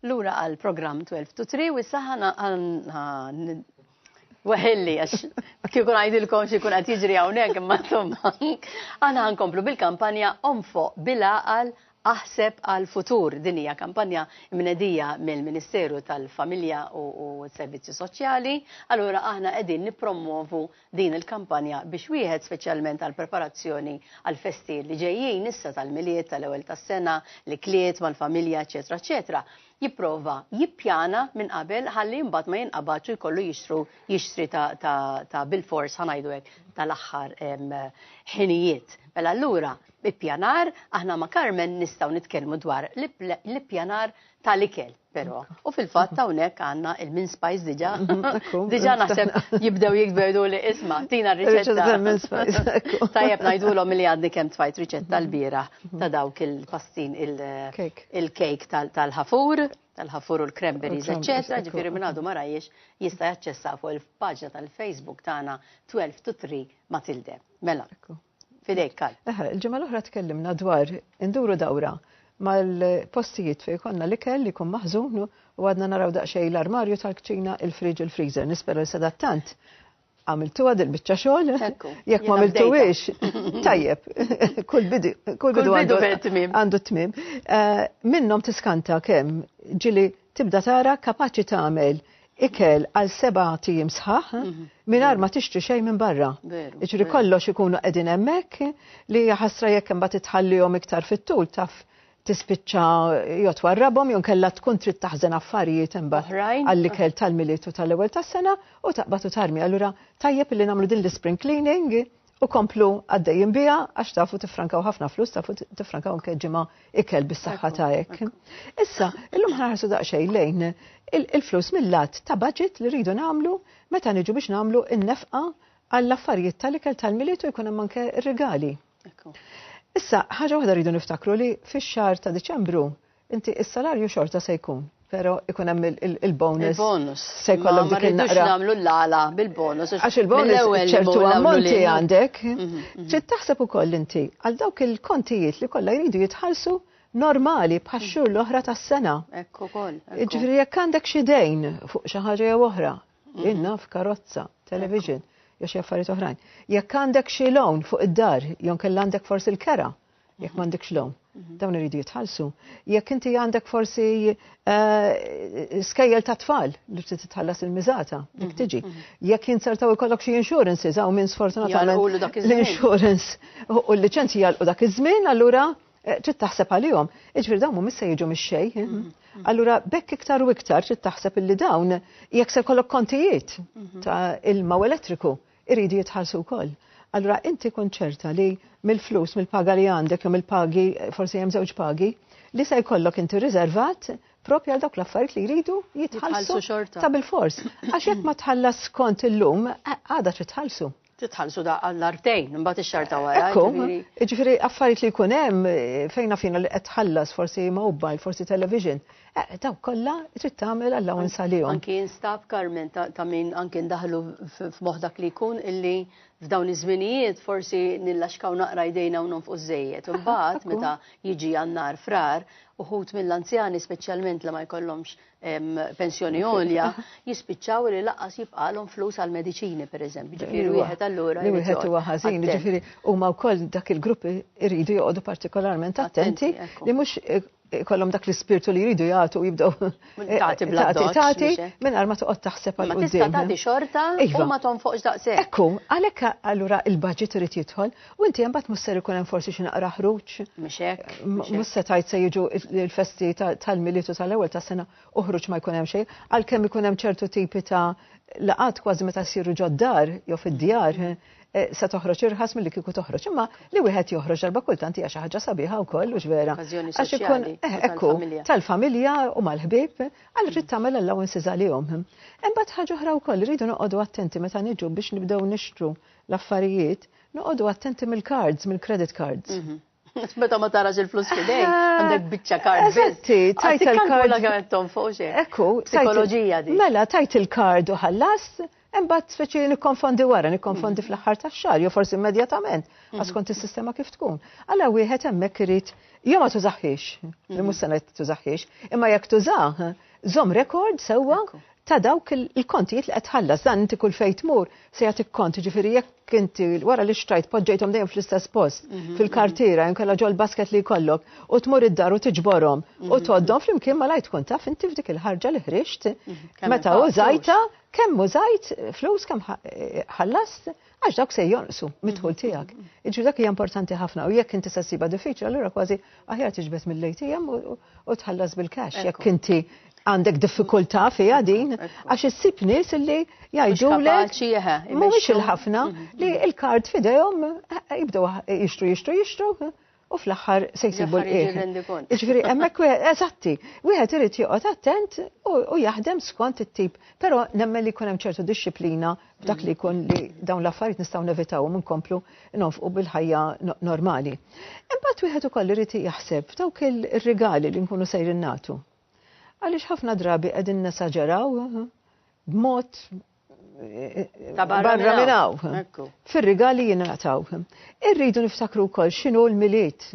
Lura għal program 12 to 3 u saħana għan Weħilli, għax kikun għajdilkom xikun għat jġri għawnek, ma tomma. Għana għankomplu bil-kampanja Omfo bil-għal aħseb għal futur dinija kampanja mnedija mill-Ministeru tal-Familja u Servizzi Soċjali. Allura aħna qegħdin nippromovu din il-kampanja biex wieħed, speċjalment għall-preparazzjoni għall-festi li ġejjin issa tal-Milied, tal-Ewwel tas-Sena, l-ikliet mal-familja, eċċetera eċċetera, jipprova jippjana minn qabel ħalli imbagħad ma jinqabadx u jkollu jixtru jixtri ta', ta, ta bil-fors ħanajdu hekk tal-aħħar ħinijiet. Mela allura ippjanar aħna ma' Carmen nistgħu nitkellmu dwar l-ippjanar tal-ikel. Pero, u fil-fatt hawnhekk għandna il-min spice diġà. Diġà naħseb jibdew jikberdu li isma' tina riċetta. Tajjeb ngħidulhom li għadni kemm tfajt riċetta l-bira ta' dawk il-pastin il-kejk tal-ħafur, tal-ħafur u l-cranberries, eċċetera, ġifieri minn għadu ma rajiex jista' jaċċessa fuq il-paġna tal-Facebook tagħna 12 to 3 Matilde. Mela, Fidejk, Karl. Eħe, il-ġimgħa l-oħra tkellimna dwar induru dawra mal-postijiet fejn konna l-ikel li jkun maħżun u għadna naraw daqsxejn l-armarju tal-kċina, il-friġ u l-freezer. Nispera li sadattant għamiltu għad il-bicċa xogħol. Jekk ma għamiltuwix, tajjeb, kull bidu għandu t-tmim. Eh, Minnom tiskanta kemm ġili tibda tara kapaċi tagħmel ikel għal sebat ijiem sħaħ mingħajr ma tixtri xejn minn barra. Jiġifieri kollox ikunu qegħdin hemmhekk li jaħasra jekk imbagħad itħallihom iktar fit-tul taf tispiċċa jew twarrabhom jew nkella tkun trid taħżen affarijiet imbagħad għall-ikel tal-milied u tal-ewwel tas-sena u taqbad u tarmi. Allura tajjeb li nagħmlu din l-ispring cleaning U komplu għaddejjin biha għax tafu tifrankaw ħafna flus, tafu tifrankaw anke ġimgħa ikel bis-saħħa ta' hekk. Issa, illum ħarsu daqsxejn lejn il-flus mill-lat ta' budget li rridu nagħmlu meta niġu biex nagħmlu n-nefqa għall-affarijiet tal-ikel tal-miliet u jkun hemm anke rigali. Issa, ħaġa waħda rridu niftakru li fix-xahar ta' Diċembru Inti is-salarju xorta se jkun, pero ikun hemm il-bonus. Il-bonus. Se jkollok dik il-naqra. nagħmlu l-għala bil-bonus. Għax il-bonus ċertu ammonti għandek. Mhm, mhm. Trid taħseb ukoll inti għal dawk il-kontijiet li kollha jridu jitħallsu normali bħax xhur mhm. l-oħra tas-sena. Ekku kol. Ġifieri jekk għandek xi dejn fuq xi ħaġa jew oħra, inna f'karozza, television, jew xi affarijiet oħrajn. Jekk għandek xi loan fuq id-dar, jew kellha għandek forsi l-kera. jekk m'għandekx lom, mhm. dawn iridu jitħallsu. Jekk inti għandek forsi eh, skejjel ta' tfal li trid titħallas il-miżata, dik mhm, tiġi. Mhm. Jekk jinsertaw ikollok xi insurances hawn minn sfortunatament l-insurance u l-liċenzji jalqu dak iż-żmien, allura eh, trid taħseb għalihom. Iġifier dawn mhumiex se jiġu mix-xejn. Eh? Allura bekk iktar u iktar trid taħseb illi dawn jekk se jkollok kontijiet ta' ilma u elettriku Iridu jitħallsu wkoll. Allura inti kun ċerta li mill-flus, mill-paga li għandek jew mill-pagi, forsi hemm żewġ pagi, li se jkollok inti riservat propju għal dawk l-affarijiet li jridu jitħallsu xorta. Ta' bil-fors. Għax jekk ma tħallas skont illum, eh, għada trid tħallsu titħallsu da għall-artejn, mbagħad ix-xar ta' wara. Ġifieri affarijiet li jkun hemm eh, fejna fina li qed tħallas forsi mobile, forsi television, Eh, daw kollha trid tagħmel allowance għalihom. Anki instab Carmen ta' min anki ndaħlu f'moħħ dak li jkun illi f'dawn iż-żminijiet forsi nillaxkaw naqra jdejna u nonfqu żejjed. Imbagħad meta jiġi għannar frar, uħut mill-anzjani speċjalment li ma jkollhomx pensjoni għolja, jispiċċaw li laqas jibqalhom flus għal mediċini pereżempju. Ġifieri wieħed allura. Li wieħed huwa ħażin, ġifieri huma wkoll dak il-gruppi iridu joqogħdu partikolarment attenti li mhux kollom dak l-ispirtu li jridu jagħtu jibdew eh, tagħti bla tagħti mingħajr ma toqgħod taħseb għal qudiem. Tista' tagħti xorta u iva. ma tonfoqx daqshekk. Ekku, għalhekk allura il-budget irid jidħol u inti hemm mbagħad musser ikun hemm forsi xi naqra ħruġ. Mhux hekk. Mhux se tgħid se jiġu l-festi tal-militu tal-ewwel tas-sena uħruġ ma jkun hemm xejn, għalkemm ikun hemm ċertu tipi ta' laqat kważi meta ssiru ġoddar jew fid-djar. Mm-hmm. se toħroġ irħas milli kieku toħroġ, imma li wieħed joħroġ darba kultant hija xi ħaġa sabiħa wkoll u vera. Għax ikun eh, ekku tal-familja u mal-ħbieb għal trid tagħmel allowances għalihom. Imbagħad ħaġa oħra wkoll rridu noqogħdu attenti meta niġu biex nibdew nixtru l-affarijiet, noqogħdu attenti mill-cards, mill-credit cards. Mhm. Meta ma tarax il-flus fidej, eh, għandek biċċa kard. Eżatti, tajt il-kard. Għandek għettom fuq xe. Ekku, psikoloġija di. Mela, tajt il-kard u ħallas, embat speċi nikkonfondi wara, nikkonfondi mm. fl-ħar ta' xar, jo forsi immedjatament, mm. għaskont il-sistema kif tkun. Għalla wieħed emmek irrit, jo ma tużaxħiex, li mm. musanet tużaxħiex, imma jek tużaħ, zom rekord sewa ta' dawk il-kontijiet li qed tħallas. Dan inti kull fejn tmur se jagħtik kont, jiġifieri jekk inti wara li xtrajt poġġejthom dejjem fl-istess post, fil-kartiera jew inkella ġol-basket li jkollok, u tmur id-dar u tiġborhom u tgħoddhom flimkien malajr tkun taf inti f'dik il-ħarġa li ħriġt meta użajtha kemm użajt flus, kemm ħallast. għax dawk se jonqsu mid-dħul tiegħek. Iġri dak hija importanti ħafna u jekk inti se ssibha diffiċli allura kważi aħjar tiġbed mill-ATM u tħallas bil-cash jekk inti għandek diffikultà fiha din għax issib nies li jgħidulek mhumiex il-ħafna li l-kard f'idejhom eh, jibdew jixtru jixtru jixtru u fl-aħħar se jsibu l-qiegħ. Jiġifieri hemmhekk wieħed eżatti, wieħed irid joqgħod attent u jaħdem skont it-tip, però nemmen li jkun hemm ċertu dixxiplina b'dak li jkun li dawn l-affarijiet nistgħu nevitawhom inkomplu nonfqu bil-ħajja normali. Imbagħad wieħed ukoll irid jaħseb dawk ir-rigali li nkunu sejrin nagħtu. Għaliex ħafna drabi qegħdin nesaġeraw b'mod barra minnaw, fil-rigali jinataw. Irridu niftakru kol xinu l-miliet,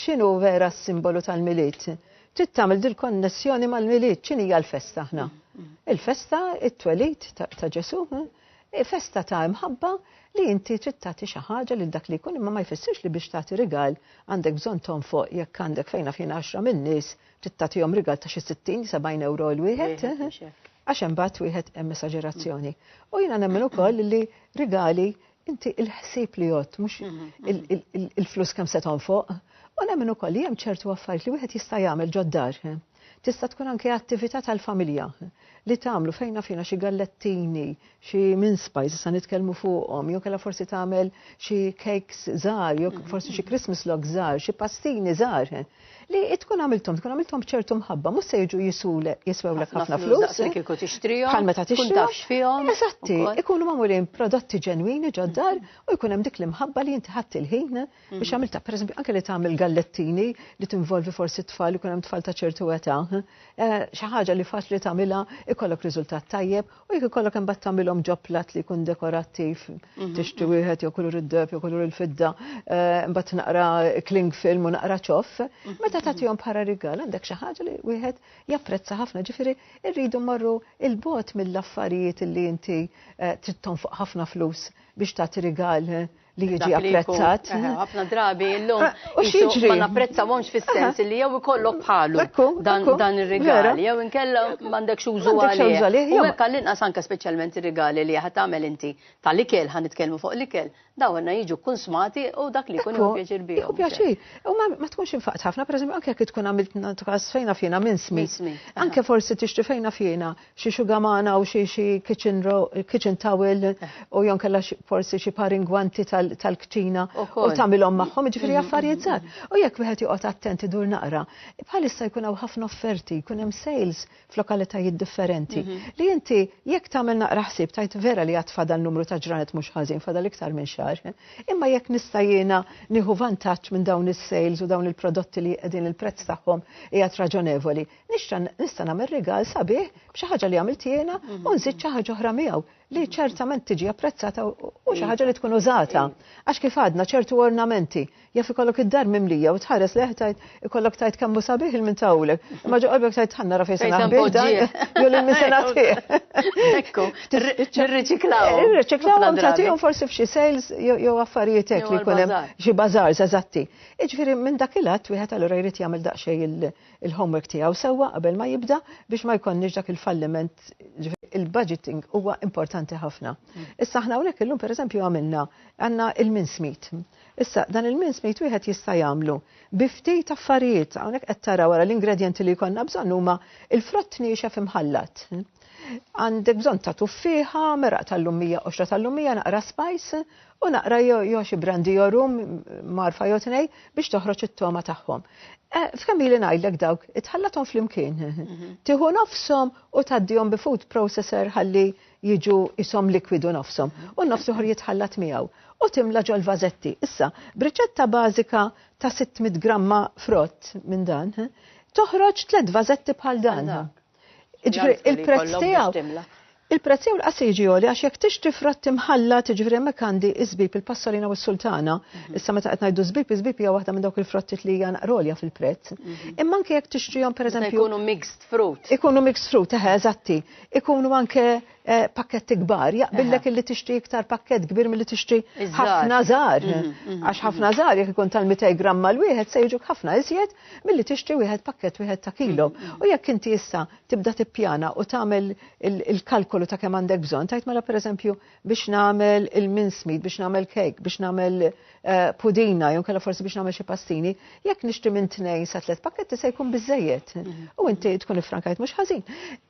xinu vera s-simbolu tal-miliet. Trid tagħmel dil-konnessjoni mal-miliet, x'inhi l-festa aħna. Il-festa, it-twelit ta' Ġesu, eh? festa ta' imħabba li inti trid tagħti xi ħaġa lil dak li jkun imma ma jfissirx li biex tagħti rigal għandek bżonn tonfoq jekk għandek fejn fina għaxra min-nies trid tagħtihom rigal ta' xi 60-70 euro l wieħed. Eh? Għax imbagħad wieħed hemm esaġerazzjoni. U jiena nemmen ukoll li rigali inti il-ħsieb li jgħod mhux il-flus kemm se tonfoq. U nemmen ukoll li hemm ċertu affarijiet li wieħed jista' jagħmel ġoddar. Tista' tkun anke attività tal-familja li tagħmlu fejna fina xi gallettini, xi mince spice sa nitkellmu fuqhom, jew kellha forsi tagħmel xi cakes żgħar, jew forsi xi Christmas log żgħar, xi pastini żgħar. li tkun għamiltom, tkun għamiltom bċertu mħabba, mus se jiġu jisul jiswewlek ħafna flus. Kiku tixtrijom. Bħal meta tixtrijom. fihom. Eżatti, ikunu mamurin prodotti ġenwini ġoddar u jkun hemm dik l-imħabba li inti ħadd il-ħin mhm. biex għamilta, per eżempju, anke li tagħmel gallettini li tinvolvi forsi tfal, ikun hemm tfal ta' ċertu età. Eh, xi ħaġa li faċli tagħmilha ikollok riżultat tajjeb U jekk ikollok imbagħad tagħmilhom ġo platt li jkun dekorattiv, mhm, tixtri mhm. wieħed jew kulur id-deb jew kulur il-fidda, eh, imbagħad naqra kling film u naqra ċoff, mhm, meta tagħtihom bħala rigal għandek xi ħaġa li wieħed japprezza ħafna, ġifieri rridu marru il-bot mill-affarijiet li inti eh, trid tonfoq ħafna flus biex tagħti rigal eh, li jiġi apprezzat. Ħafna drabi llum ah, u xieġri. Ma napprezzawhomx fis-sens li jew ikollok bħalu dan ir-rigali jew inkella m'għandekx użu għalih. U hekk għall-inqas anke speċjalment ir-rigali li ħad tagħmel inti tal-ikel ħan nitkellmu fuq l-ikel dawn jiġu kunsmati u dak li jkun pjaċir bihom. Pjaċir. U ma tkunx infaqt ħafna, pereżempju anke jekk tkun għamilt tkas fejna fjena minn smi. Anke forsi tixti fejna fjena xi xugamana u xi xi kitchen kitchen towel u jon kella forsi xi paringwanti tal-kċina u tagħmilhom magħhom, jiġifieri mm-hmm. affarijiet żgħar. U jekk wieħed joqgħod attent idur naqra, bħalissa jkun hawn ħafna offerti, jkun hemm sales f'lokalitajiet differenti. Mm-hmm. Li inti jekk tagħmel naqra ħsieb tajt vera li għad fadal numru ta' ġranet mhux ħażin fadal iktar minn xahar. Imma jekk nista' jiena nieħu vantaġġ minn dawn is-sales u dawn il-prodotti li qegħdin il-prezz tagħhom qiegħed raġonevoli, Nixtra nista' nagħmel rigal sabiħ b'xi ħaġa li għamilt jiena mhm. u nżid xi ħaġa oħra miegħu li ċertament tiġi apprezzata u xi ħaġa li tkun użata. Għax kif għadna ċertu ornamenti jaf ikollok id-dar mimlija u tħares leħ tajt ikollok tajt kemm sabiħ il mintawlek. Ma ġo qalbek tajt ħanna rafi sena ħbibda jew lil min sena Ekku, nirriċiklaw. Eh, nirriċiklaw u tagħtihom forsi f'xi sales jew affarijiet hekk li jkun hemm xi bażars eżatti. Iġifieri minn dak il-att wieħed allura jrid jagħmel daqsxejn il-homework tiegħu sewwa qabel ma jibda biex ma jkollniex dak il-falliment il-budgeting huwa importanti ħafna. Mm. Issa aħna hawnhekk illum pereżempju għamilna għandna il-minsmit. Issa dan il-minsmit wieħed jista' jagħmlu bi ftit affarijiet hawnhekk qed tara wara l-ingredjenti li jkollna bżonn huma il-frott niexef imħallat. Għandek bżonn ta' tuffiħa, meraq tal-lumija, qoxra tal-lumija, naqra spajs, u naqra jew xi brandi jew rum marfa jew tnej biex toħroġ it-togħma tagħhom. Eh, f'kemm ili ngħidlek dawk, itħallathom flimkien. Mhm. Tieħu nofshom u tgħaddihom bi food processor ħalli jiġu isom likwidu nofshom mhm. u nofs uħor jitħallat miegħu u timla ġol vazetti. Issa, briċetta bażika ta' 600 gramma frott minn dan, eh, toħroġ tliet vazetti bħal dan. Ġifri, il-prezz tiegħu. Il-prezz tiegħu l-qas jiġi għoli għax jekk tixtri fratt imħalla tiġri hemmhekk għandi iżbib il-passolina u s-sultana. Mhm. Issa meta qed ngħidu żbib, iżbib hija waħda minn dawk il-frattiet li hija naqrolja fil-prezz. Mhm. Imma anke jekk tixtrihom pereżempju. Ikunu mixed fruit. Ikunu mixed fruit, eħe, eżatti. Ikunu anke Eh, pakketti kbar, jaqbillek illi tixtri iktar pakket kbir mill-li tixtri ħafna żgħar. Mhm, mhm, Għax ħafna mhm. żgħar jekk ikun tal-200 gramma l-wieħed se jiġu ħafna iżjed milli tixtri wieħed pakket wieħed ta' kilo. U jekk inti issa tibda tippjana u tagħmel il-kalkolu ta' kemm għandek bżonn, tajt mela pereżempju biex nagħmel il-minsmid, biex nagħmel kejk, biex nagħmel Eh, pudina, jew kella forsi biex nagħmel xi pastini, jekk nixtri minn tnejn sa tliet pakketti se jkun biżejjed. Mhm. U inti tkun ifrankajt mhux ħażin.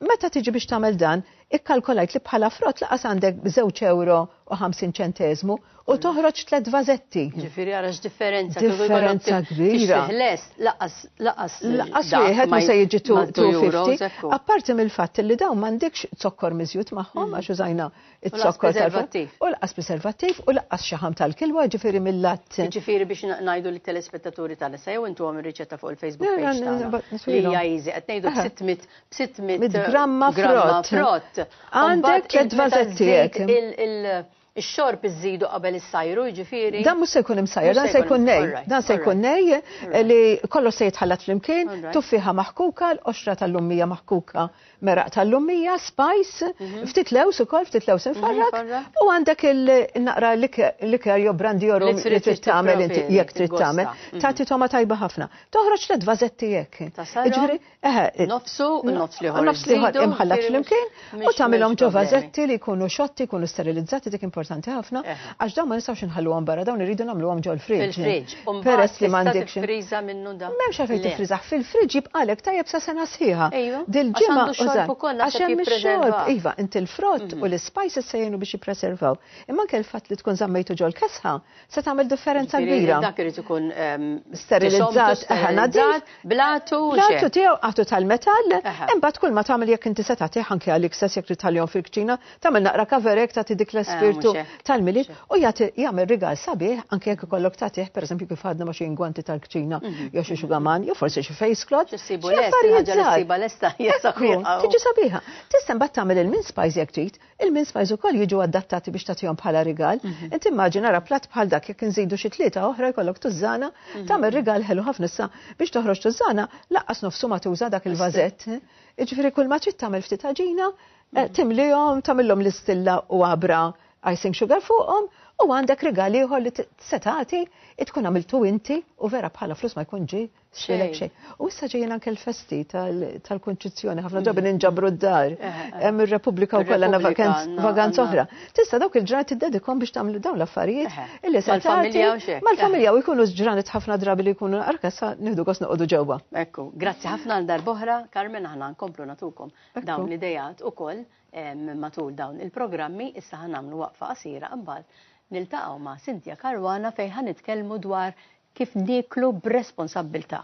Meta tiġi biex tagħmel dan, ikkalkolajt li bħala frott laqas għandek żewġ euro u 50 ċentezmu u mhm. toħroġ tliet vażetti. Ġifieri għara x'differenza differenza kbira. Laqas laqas laqas wieħed ma se jiġi 250. Apparti mill-fatt li dawn m'għandekx zokkor miżjut magħhom mhm. għax użajna It-zokk preservattiv. U l-qas preservattiv u l-qas xaħam tal-kilwa ġifiri mill-lat. Ġifiri biex najdu li telespettaturi tal sa jew intu għam il-riċetta fuq il-Facebook page tagħna. Li hija easy qed ngħidu b'600 gramma frott. Għandek tliet vażettijiet. Ix-xorb iżidu qabel is-sajru, ġifiri. Dan mhux se jkun imsajr, dan se jkun nej. Dan se jkun nej li kollox se jitħallat flimkien, tuffiħa maħkuka, l-qoxra tal-lummija maħkuka meraq tal-lummija, spajs, mhm. ftit lews ukoll, ftit lews mhm, infarrak, u għandek il-naqra liker jew brandi joru li trid tagħmel inti jekk trid tagħmel. Mhm. Tagħti toma tajba ħafna. Toħroġ tliet vażetti jekk. Ġifieri, eħe. Eh, nofsu, nofs liħor. Nofs liħor imħallat flimkien u tagħmilhom ġo vażetti li jkunu xotti, jkunu sterilizzati dik importanti ħafna. Għax dawn ma nistgħux inħalluhom barra, dawn irridu nagħmluhom ġol friġġ. Fil-friġġ. Peress li m'għandekx. Friża minnu da. M'hemmx għalfejn tifriżaħ fil-friġġ jibqalek tajjeb sa sena sħiħa. Ejju. Dil-ġimgħa xorb ukoll għax hemm ix-xorb. Iva, inti l-frott mhm. u l-ispajses se jgħinu biex jippreservaw. Imma anke l-fatt li tkun żammejtu ġol kesħa se tagħmel differenza kbira. Dak irid ikun ehm, sterilizzat, ħanadżat, blatu. Blatu tiegħu qatu tal-metall, imbagħad kull ma tagħmel jekk inti se tagħtih anke għalik stess jekk titħallihom fil-kċina, Tagħmel naqra kaverek tagħti dik l-espirtu eh, tal-milied u jagħti jagħmel rigal sabiħ anke jekk ikollok tagħtih pereżempju kif għadna ma xi ingwanti tal-kċina mhm. jew xi xugaman jew forsi xi face cloth. Ġissibu lest ħaġa li ssiba lesta Tiġi sabiħa. Tista' mbagħad tagħmel il-min spice jekk trid, il-min spice ukoll jiġu adattati biex tagħtihom bħala rigal. Mhm. Inti immaġina ra platt bħal dak jekk inżidu xi tlieta oħra jkollok tużżana, mhm. tagħmel rigal ħelu ħafna issa biex toħroġ tużżana laqqas nofsu ma tuża dak il-vażett. Iġifieri kull ma trid tagħmel ftit ħaġina Eh, timlihom, tagħmilhom l-istilla u għabra icing sugar fuqhom u għandek rigal ieħor li setati tkun għamiltu inti u vera bħala flus ma jkun ġi xilek xejn. U issa ġejjin anke l-festi tal-konċizzjoni ħafna ġabi mm. ninġabru d-dar. Eh, eh, Hemm ir-Repubblika wkoll għandna vakanz oħra. Tista' dawk il-ġranet iddedikom biex tagħmlu dawn l-affarijiet illi se tagħti mal-familja u jkunu ġranet ħafna drabi li jkunu arkassa nieħdu gos noqogħdu ġewwa. Ekku, grazzi ħafna għal darboħra, Carmen aħna nkomplu natukom. dawn l-ideat ukoll matul dawn il-programmi, issa ħa nagħmlu waqfa qasira imbagħad niltaqgħu ma' Cynthia Caruana fejn ħa nitkellmu dwar kif nieklu b'responsabbiltà.